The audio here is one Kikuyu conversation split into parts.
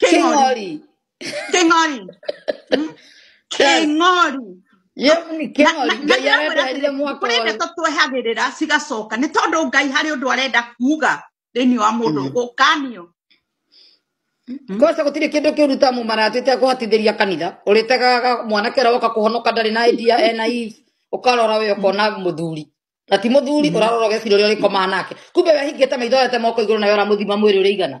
King Ori. King Ori. Mm? King Ori. Ye ni King Ori. Ngai Ngai arenda amwĩra athire atĩrĩ, mwaka kũrĩ ũyũ. ndeto twehagĩrĩra cigacoka nĩ tondũ ngai harĩ ũndũ arenda kuga thĩinĩ wa mũndũ Mm. gũkanio Mm. Kosa gũtirĩ kĩndũ kĩũru ta mũmaratĩte kũhatithĩria kanitha ũrĩtegaga mwanake ũrĩa woka kũhonoka ndarĩ na idea ena eve ũkarora we ũkona mũthuri na ti mũthuri ũrarora ũgecira ũrĩa ũrĩkomaa nake kumbe wehingĩte maitho ete moko igũrũ nayo ũramũthima mwĩrĩ ũrĩ igana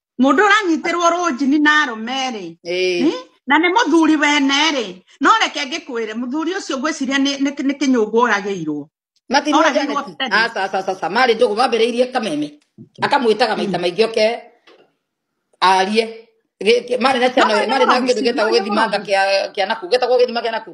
mundu uranyitirwo runjini na arume ri Eh, na nä må thuri wene rä no reke ngä kwä re må thuri å cio ngwä ciria nä kä nyå ngå oragä irwo matirwo Ora, Janet. nĩguo Fred. Ah, sa- sa- sa- sa. marĩ ndũgũ mambĩrĩirie kameme akamwĩtaga maita maingĩ oke arie Gĩ- gĩ- marĩ na ciana No, no, marĩ na no, kĩndũ gĩtagwo no, no. gĩthimanga kĩa kĩa naku gĩtagwo gĩthima kĩa naku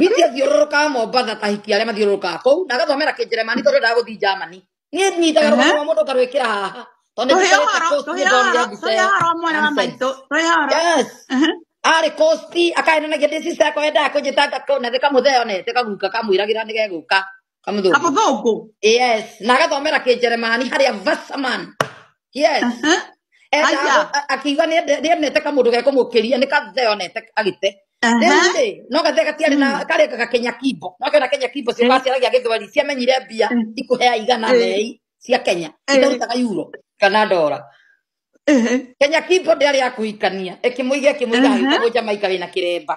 Biti athiũrũrũkaga Mombasa tahikia arĩa mathiũrũrũkaga kũu na agathomera kĩnjeremani tondũ endaga gũthiĩ Germany. Niĩ nyitaga Aha. rũgano rwa mũndũ ngarwĩkĩra haha. Tondũ Tũhe nĩndikarĩte ũhoro, post tũhe nĩndonire ũhoro, mbica tũhe ĩyo. ũhoro wa mwana wa Nonsense. maitũ, tũhe ũhoro. Yes. Aha. arä kosti akaenanagia ndä cica yakwa endaga kå njä tanga kona thä kamå thea onete kaguka kamwä ragä ra nä gegå ka qamadoow qamadoogo yes naga doomera ke jeremani hari avasaman yes Aha. eta Aya. akiwa ne ne ne teka mudu ke komo keria ne ka zeo ne tek agite Aha. Rĩu-rĩ, no gathe gatiarĩ na karĩ kaka kenya kimbo no kena kenya kimbo cio gaciara gĩa gĩthweri ciamenyire mbia Mm. ikũhea igana Eh. mei cia kenya Eh. itarutaga yuro kana ndora Ehe. kenya kimbo ndĩarĩ ya kũhikania ĩkĩmũiga ĩkĩmũiga Aha. agĩtagwo jamaika wĩna kĩremba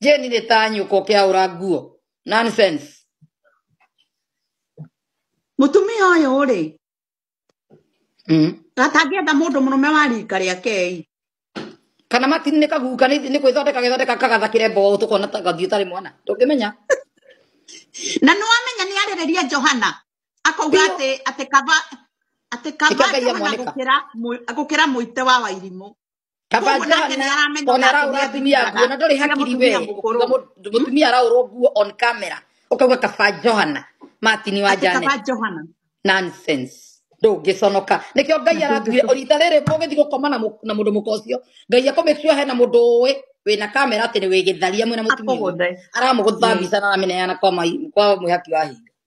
Jane nĩ ta nyũkwa ũkĩaũra nguo. Nonsense. Mũtumia ũyũ rĩ, Mm. atangĩenda mũndũ mũrũme wa rika rĩake ĩ. Kana matini nĩ kaguka nĩ nĩ gwĩthondeka gĩthondeka kagathakĩre mboũ tũkona ta gathiĩ ũtarĩ mwana. Ndũngĩmenya. Na nĩwamenya nĩarĩrĩria Johana akauga Biũ. atĩ atĩ kaba atĩ Ĩka kaba Ngai Johana amwanĩka. gũkĩra mũ- gũkĩra mũite wa wairimũ. kaba Mũndũ nake njohana nĩaramenya ona ona araũra atumia atumia nguo na ndoĩ nĩatumĩaga hakiri we mũtumia mũkũrũ. Uga mũ- Hmm? mũtumia araũrwo nguo on camera ũkauga kaba njohana matini wa Atĩ kaba janet Johana. nonsense ndũngĩconoka nĩkĩo ngai Na aratwire ndũngĩconoka. rita rĩrĩ mũgĩthiĩ gũkoma na mũ- na mũndũ mũka ũcio ngai akå make sure hena mũndũ ũĩ wĩna kamera atĩ nĩ wĩgĩtharia mwĩna mũtumia ũyũ Akũgũthe. aramũgũtha Ĩĩ. mbica na arameneana kwa mai- kwa mwĩhaki wa hingo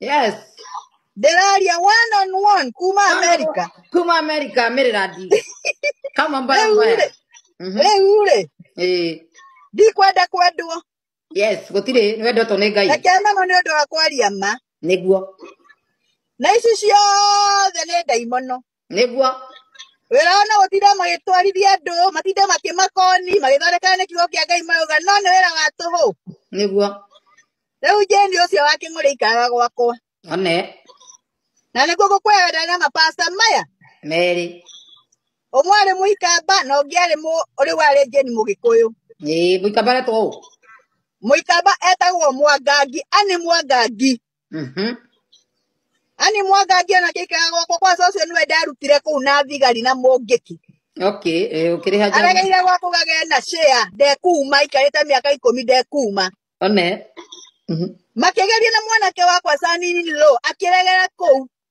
yes ndĩraria one on one kuma america kuma america merera ndi kama mbaya Rĩu mbaya rĩ- Mhm. rĩu rĩ Eh, ndikwenda kwendwo yes gũtirĩ nĩ wendetwo nĩ ngai reke mano nĩ ũndũ wa kwaria ma nĩguo na ici ciothe nĩ ndaimono nĩguo wĩra ona gũtinda magĩtwarithia andũ matinde makĩmakoni magĩthondekana nĩ kiugo kĩa ngai mauga no nĩ wĩra wa tũhũ nĩguo rĩu jeni ũcio wa kĩng'ũrĩ ikaga gwakwa one na nĩguo gũkwaya wenda na mapasta maya merĩ ũmwe arĩ mũikamba na ũngĩ arĩ mũ ũrĩ warĩ jeni mũgĩkũyũ ĩĩ mũikamba aretwo ũ mũikamba etagwo mwangangi ani mwangangi Mhm. ani mwanga angĩona gĩikara gwakwa kwa cũcũ nĩwe ndarutire kũu na thigari na mũngĩki okay eh, ũkĩrĩha njohi aregeire gwa kũgagĩa na share ndekuuma aikarĩte mĩaka ikũmi ndekuuma one Mhm. makĩgeria na mwanake wakwa sanini lo akĩregera kũu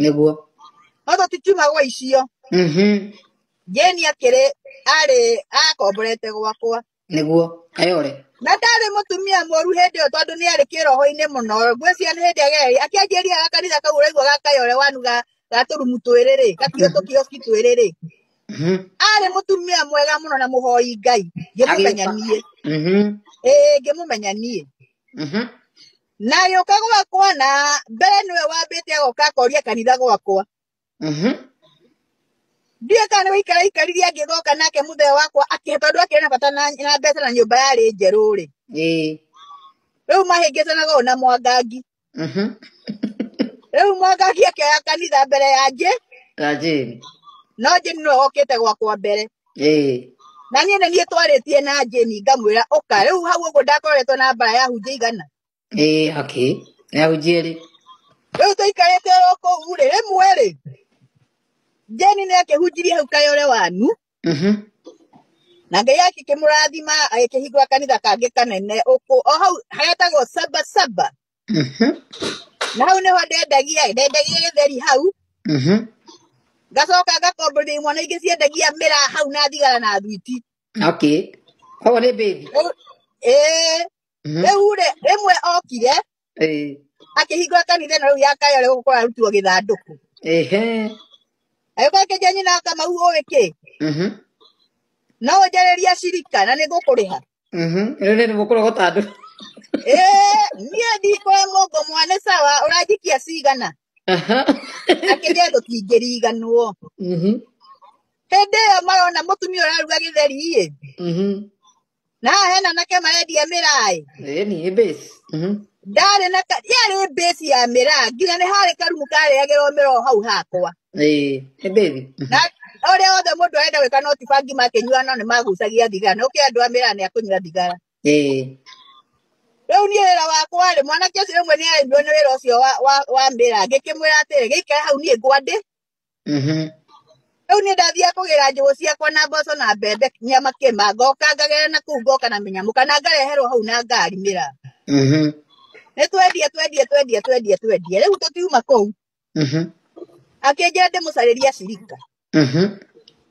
nĩguo no tũtikiuma gwa icio Mhm. jeni akĩrĩ arĩ akomborete gwakwa nĩguo ayore na ndarĩ mũtumia mũru hĩndĩ ĩyo tondũ nĩ arĩ kĩroho-inĩ mũno ngwĩciria nĩ hĩndĩ agereire akĩanjĩria ga kanitha kau ũraigua ga kayore wanu ga ga tũrumu twĩrĩrĩ gakio tũkioski twĩrĩrĩ Mhm. arĩ mũtumia mwega mũno na mũhoi ngai ngĩmũmenya Agĩũka. niĩ Mhm. ĩĩ ngĩmũmenya niĩ Mhm. na agĩũka gwakwa na mbere nĩwe wambĩte agoka akoria kanitha gwakwa Mhm. ndiũĩ kana nĩ gũikara aikaririe angĩgoka nake mũthee wakwa akĩhe tondũ akĩrĩ na bata na na mbeca na nyũmba yarĩ njerũ rĩ Ĩĩ. rĩu mahĩngĩcanaga ũũ na mwangangi Mhm. rĩu mwangangi akĩoya kanitha mbere ya njĩ Tanjĩri. no njĩ nĩwe okĩte gwakwa mbere ĩĩ na niĩ nĩ niĩ twarĩtie na jeni ngamwĩra ũka rĩu hau ũguo ndakoretwo na mbara ya hunjia igana ĩĩ akĩ nĩahunjie rĩ rĩu tũikarĩte oro kũu rĩ rĩmwe rĩ jeni nĩ akĩhunjirie hau kayore wanu Mhm. na ngai akĩkĩmũrathima agĩkĩhingũra kanitha kangĩ kanene ũkũ o hau harĩa tagwo saba saba Mhm. na hau nĩho ndendagia ĩ, ndendagia gĩtheri hau Mhm. ngacoka ngakombithia imwe na ingĩ ciendagia mĩra hau na thigara na thwiti okay koguo nĩ mbĩthi Rĩu- ĩĩ Mhm. rĩu rĩ rĩmwe okire Ĩĩ. akĩhingũra kanitha ĩno rĩu ya kayore gũkorwo arutirwo gĩthandũkũ Ehe. agĩkorwo akĩnjia nyina akamau ũĩ kĩ Mhm. no ũnjarĩria cirika na nĩ ngũkũrĩha Mhm. Rĩu nĩ mũkũrũ gũtandũ. Eh, niĩ ndikwa mũngo mwane sawa ũranjikia cigana Aha. akĩrĩa tũtingĩriganwo Mhm. hĩndĩ ĩyo marona mũtumia ũraruga gĩtheri ĩ Mhm. na haha hena nake marendia mĩraĩ Ĩĩ ni ĩ base. Mhm. ndarĩ na ka- yarĩ mbĩci ya mĩraa nginya nĩ harĩ karumu karĩagĩrwo mĩraa o hau hakwa ĩĩ nĩ baby na ũrĩa wothe mũndũ arenda gwĩka no ti bangi makĩnyua no nĩ magucagia thigara no kĩ andũ a mĩraa nĩ akũnyua thigara ĩĩ rĩu niĩ wĩra wakwa rĩ mwanake ũcio rĩmwe nĩ arĩmbiwo nĩ wĩra ũcio wa, wa, wa mĩra ngĩkĩmwĩra atĩrĩ gĩikare hau niĩ ngwandĩ mhm rĩu niĩ ndathiaga kũgĩra njũgũ ciakwa na mboco na mbembe nyama kĩma ngoka ngagera na kũu ngoka na mĩnyamũ kana ngareherwo hau na ngari mĩra mhm nĩ twendie twendie twendie twendie twendie rĩu tũtiuma kũu Mhm. akĩnjĩra ndĩmũcarĩrie acirika Mhm.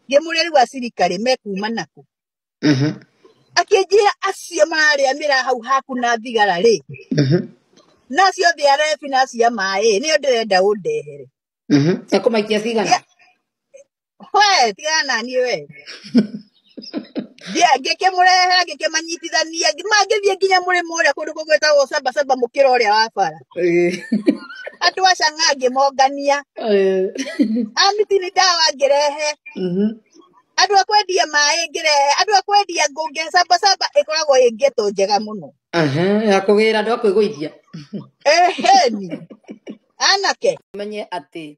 ngĩmũrĩa rĩu acirika rĩ mekuma naku Mhm. akĩnjĩra acio mararĩa mĩraa hau haku na thigara rĩ Mhm. nacio thĩ ya rebi na cia maĩ nĩyo ndĩrenda ũndehere Mhm. ekũmaikia cigana Cia- we tigana nani we Ndia- ngĩkĩmũrehe ngĩkĩmanyitithania mangĩthiĩ nginya mũrĩmo ũrĩa kũndũ kũgwĩtagwo cabacaba mũkĩra ũrĩa wa bara Eh, andũ a canga ngĩmongania eh, amiti nĩ ndawa ngĩrehe mhm. andũ a kwendia maĩ ngĩrehe andũ a kwendia ngũ ngĩcabacaba ĩkoragwo ĩ ngeto njega mũno Aha, ya kũgĩra andũ a kwĩgũithia ĩheni anake menye atĩ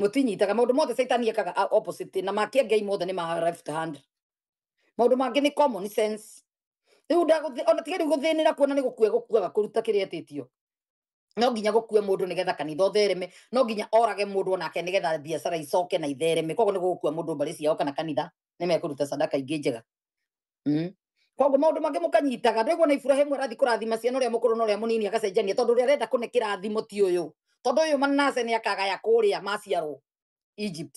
mũtinyitaga maũndũ mothe caitani ekaga a- opposite na make ngai mothe nĩ ma left hand maũndũ mangĩ nĩ common sense rĩu ndagũthĩ- ona tiga rĩu gũthĩnĩra kuona nĩ gũkua gũkuaga kũruta kĩrĩa etĩtio no nginya gũkue mũndũ nĩgetha kanitha ũthereme no nginya orage mũndũ onake nĩgetha biacara icoke na ithereme koguo nĩ gũgũkua mũndũ mbarĩ ciao kana kanitha nĩ mekũruta sadaka ingĩ njega Mm. koguo maundu mangĩ mũkanyitaga ndwĩguo na iburahimu arathiĩ kũrathima ciana ũrĩa mũkũrũ na ũrĩa mũnini agacenjania tondũ ũrĩa arenda kũne kĩrathimo ti ũyũ tondũ ũyũ manase nĩ akagaya kũrĩa maciarwo egypt